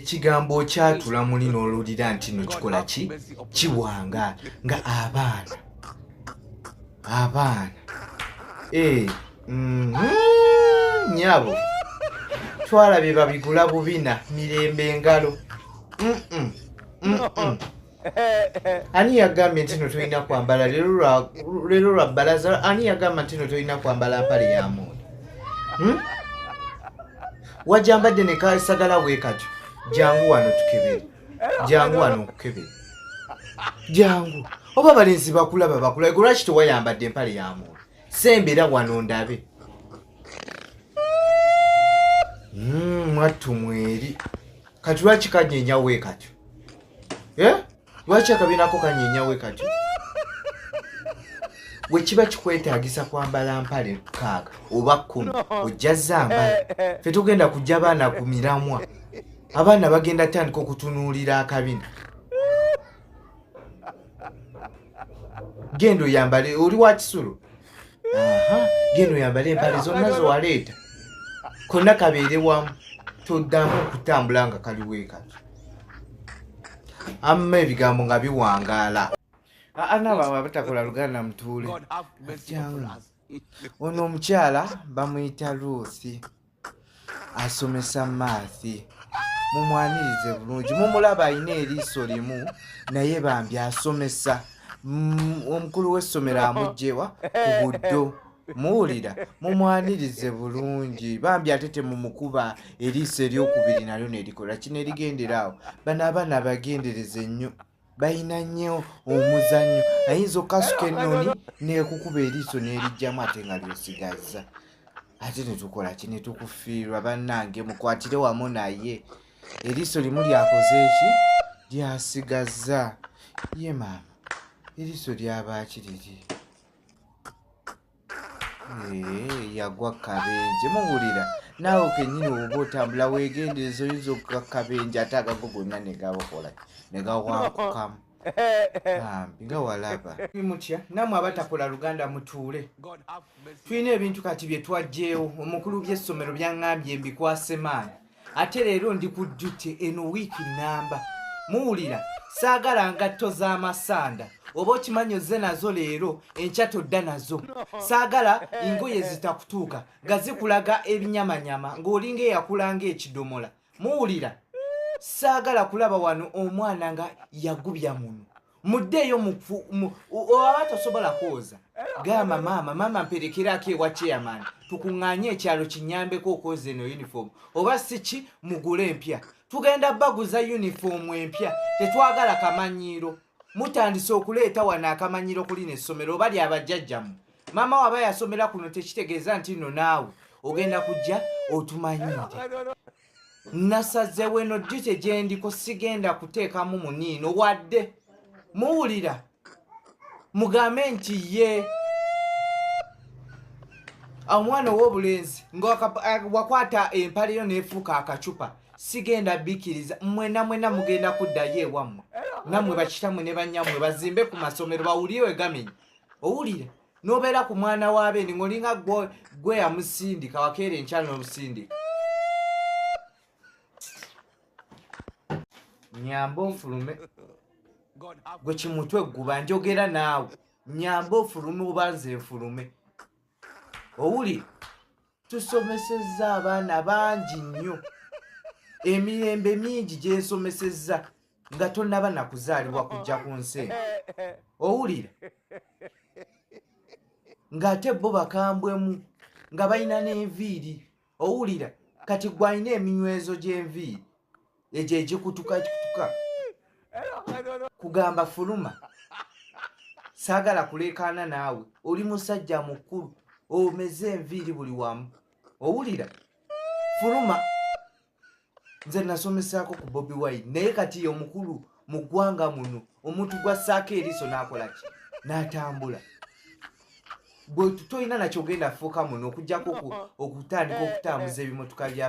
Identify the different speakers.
Speaker 1: ekigambo okyatula muli n'olulira nti no kikola ki kiwanga nga abaana abaana ee eh, mm, nyabo twala bye babigula bubina mirembe engalo mm -mm, mm -mm. ani yagambye nti no tolina kwambala lero lwa balaza ani yagamba nti no tolina kwambala mpale ya muuni hmm? wajambadde ne kasagala weekatyo jangu wano tukebere jangu wano nkukebere jangu oba balenzi bakulaba bakula lwaki tewayambadde empale ya muuni sembera wano ndabe hmm, mwattu mweri kati lwaki kanyenyaweekatyo eh? lwaki akabiina ko kanyenyawe kati bwe kiba kikwetaagisa kwambala mpale mukaaga oba kkumi ojja zambala eh, eh. fe tugenda kujja abaana ku miramwa abaana bagenda tandika okutunuulira akabina genda oyambale oli wa kisulo geno yambale empale zonna zewaleeta konna kabeere wamu toddamu okutambula nga kali weekati amma ebigambo nga biwangaala anababatakola luganda mutuule ono omukyala bamuyita luusi asomesa maathi mumwanirize bulungi mumulaba alina eriiso limu naye bambi asomesa mm, omukulu w'essomero amugjewa ku buddo muwulira mumwanirize bulungi bambi ate temumukuba eriiso eryokubiri nalyo nerikola kino erigendera awo bano abaana bagendereze nnyo balina nnyo omuzannyo ayinza okukasuka ennoni nekukuba eriiso nerijjamu ate nga lyosigazza ate netukola ki netukufiirwa bannange mukwatire wamu naye eriiso limu lyakoze eki lyasigazza ye maama eriiso lyabaaki liri Eh, yagwa kabenje muwulira naawe kenyini oba otambula wegendereza oyinza okuga kabenje ate agago gonna negabakola negawakukamu bambi nga walaba mutya namwe abatakola luganda mutuule tulina ebintu kati byetwajjeewo omukulu byessomero byaŋambye mbikwasemaani ate leero ndi ku duty eno wiiki nnamba muwulira saagala ngatto z'amasanda oba okimanyi ozze nazo leero enkya todda nazo saagala engoye zitakutuuka nga zikulaga ebinyamanyama ng'olinga eyakulanga ekidomola muwulira saagala kulaba wano omwana nga yagubya muno muddeeyo oba tosobola kwoza gamba maama maama mperekerako ewa chairman tukuŋŋanye ekyalo kinyambeko okwoza eno uniform oba siki mugule empya tugenda baguza uniform empya tetwagala kamanyiiro mutandise okuleeta wano akamanyiiro kuli nessomero oba lyabajjajjamu maama waba yasomera kuno tekitegeeza nti no naawe ogenda kujja otumanyiire nasazewo eno jute gyendiko sigenda kuteekamu muniino wadde muwulira mugambe nti ye omwana ow'obulenzi nga wakwata empaleyo nefuuka akacupa sigenda bikiriza mwena mwena mugenda kuddayo ewammwe nammwe bakitamwe ne banyammwe bazimbe ku masomero bawulire wegamenya owulira nobeera ku mwana wa beeni ng'olinga gwe yamusindika wakeera enkyalo n'omusindika nyamba onfulume gwe kimutwe gguba njogera naawe nyamba ofulume oba nze nfulume owuli tusomesezza abaana bangi nnyo emirembe mingi gyensomesezza nga tonnaba nakuzaalibwa kujja ku nsi owulira ng'ate bo bakambwemu nga balina n'enviiri owulira kati gwalina eminywezo gy'enviiri egyo egikutuka ekikutuka kugamba fuluma saagala kuleekaana naawe oli musajja mukulu omeze enviiri buli wamu owulira fuluma nze nasomesaako ku bobi wine naye kati ye omukulu mu ggwanga muno omuntu gwassaako eriiso n'akola ki n'atambula gwe tolina nakyogenda fuuka muno okujjako okutandika okutambuza ebimotoka bya